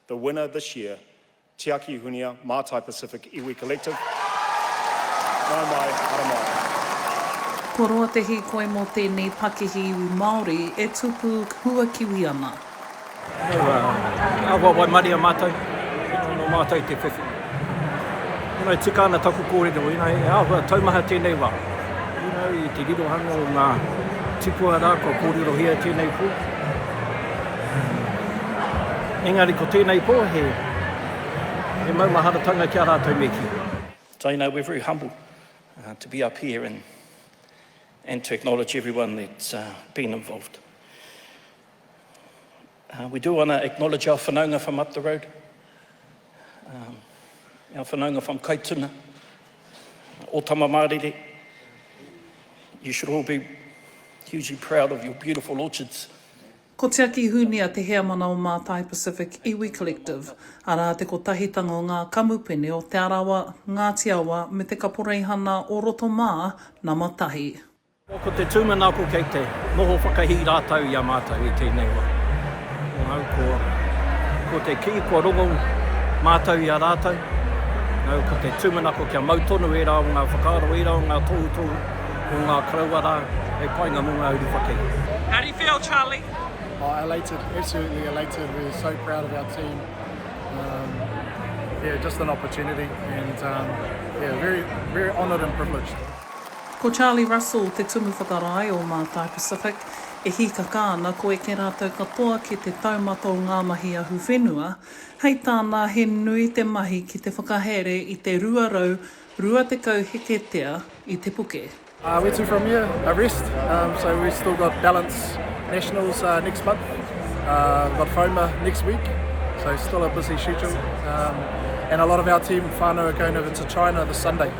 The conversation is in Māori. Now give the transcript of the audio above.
The winner this year, Tiaki Hunia, Mātai Pacific Iwi Collective. Nau mai, haramai. Ko roa te hīkoi mō tēnei pakihi iwi Māori e tupu huakiwi ana. Nau a, nā wai waimaria mātou, tino anō mātou te whiwhi. You know, tika ana taku kōrero, you know, e āhua taumaha tēnei wā. You know, i te rirohanga o ngā tipua rā kua kōrerohia tēnei pō. Engari ko tēnei pō he, he maumaharatanga ki a rātou me kī. So, you know, we're very humble uh, to be up here and, and to acknowledge everyone that's uh, been involved. We do want to acknowledge our whanaunga from up the road, our whanaunga from Kaituna, o Tamamārire. You should all be hugely proud of your beautiful orchards. Ko Tiaki Hunia te heamana o Mātai Pacific Iwi Collective, arā te kotahitanga o ngā kamupene o Te Arawa, Ngāti Awa me Te Kaporeihana o roto mā, nama tahi. Ko te tūmanako kei te noho whakahī rātou i a mātou i tēnei wā. Nau ko, ko te kī kua rongo mātou i a rātou, nau ko te tūmanako kia mau tonu ērā o ngā whakaaro, ērā o ngā tohutohu o ngā karaua rā hei painga mō ngā uri whakahī. How do you feel, Charlie? Oh, elated, absolutely elated. We're so proud of our team. Um, yeah, just an opportunity and um, yeah, very, very honoured and privileged. Ko Charlie Russell te tumu whakarae o Mātai Pacific, e hīkaka ana ko eke rātou katoa ki te taumata o ngā mahi ahu whenua, hei tāna he nui te mahi ki te whakahaere i te 220 heketea i te puke. Where to from here? A rest, so we've still got Ballance Nationals next month, we've got Homer next week, so still a busy schedule and a lot of our team whānau are going over to China this Sunday.